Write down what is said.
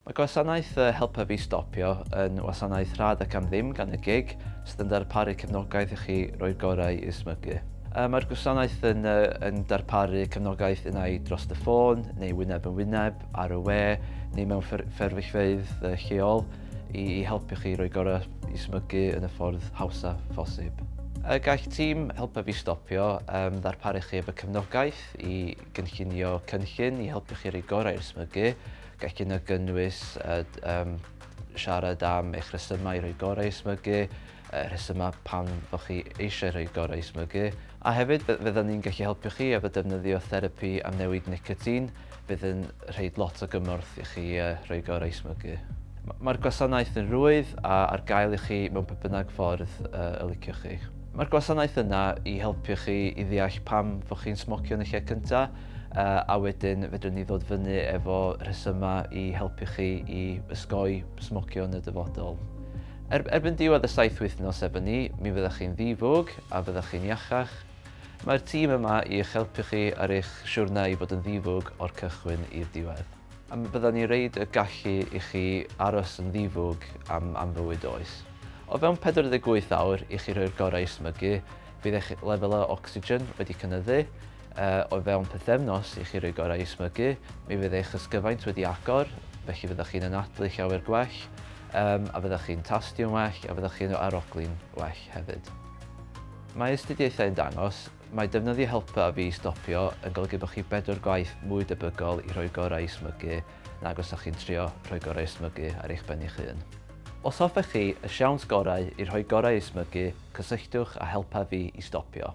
Mae gwasanaeth y Helpa Fi Stopio yn wasanaeth rhad ac am ddim gan y gig sydd yn darparu cefnogaeth i chi roi'r gorau i'r smygu. Mae'r gwasanaeth yn yn darparu cefnogaeth unai dros y ffôn neu wyneb yn wyneb, ar y we neu mewn fferyllfeydd lleol i i helpu chi roi'r gorau i smygu yn y ffordd hawsaf phosib. Y gall tîm Helpa Fi Stopio ddarparu chi efo cefnogaeth i gynllunio cynllun i helpu chi roi'r gorau i'r smygu Gall hyn gynnwys siarad am eich rhesymau i roi gorau i smygu, y rhesymau pam bod chi eisiau rhoi gorau i smygu, a hefyd fyddan ni'n gallu helpu chi efo defnyddio therapi am newid nicotin fydd yn rhoi lot o gymorth i chi roi gorau i smygu. Mae'r gwasanaeth yn rwydd a ar gael i chi mewn pa bynnag ffordd y liciwch chi. Mae'r gwasanaeth yna i helpu chi i ddeall pam bod chi'n smocio yn y lle cyntaf, a wedyn fedrwn ni ddod fyny efo rhesymau i helpu chi i ysgoi smocio yn y dyfodol. Er, erbyn diwedd y saith wythnos efo ni, mi fyddwch chi'n ddifwg a fyddwch chi'n iachach. Mae'r tîm yma i eich helpu chi ar eich siwrna i fod yn ddifwg o'r cychwyn i'r diwedd. A mi fyddan ni reid y gallu i chi aros yn ddifwg am, am fywyd oes. O fewn 48 awr i chi rhoi'r gorau i smygu, Bydd eich lefelau ocsigen wedi cynyddu. O fewn pythefnos i chi roi gorau i smygu, mi fydd eich ysgyfaint wedi agor, felly fyddwch chi'n anadlu llawer gwell, a fyddwch chi'n tastio'n well, a fyddwch chi'n arogli'n well hefyd. Mae astudiaethau yn dangos mai defnyddio helpu a fi i stopio yn golygu bod chi bedwar gwaith mwy debygol i roi gorau i smygu nag os ydych chi'n trio rhoi gorau i smygu ar eich ben eich hun. Os hoffech chi y siawns gorau i rhoi gorau i smygu, cysylltwch a helpa fi i stopio.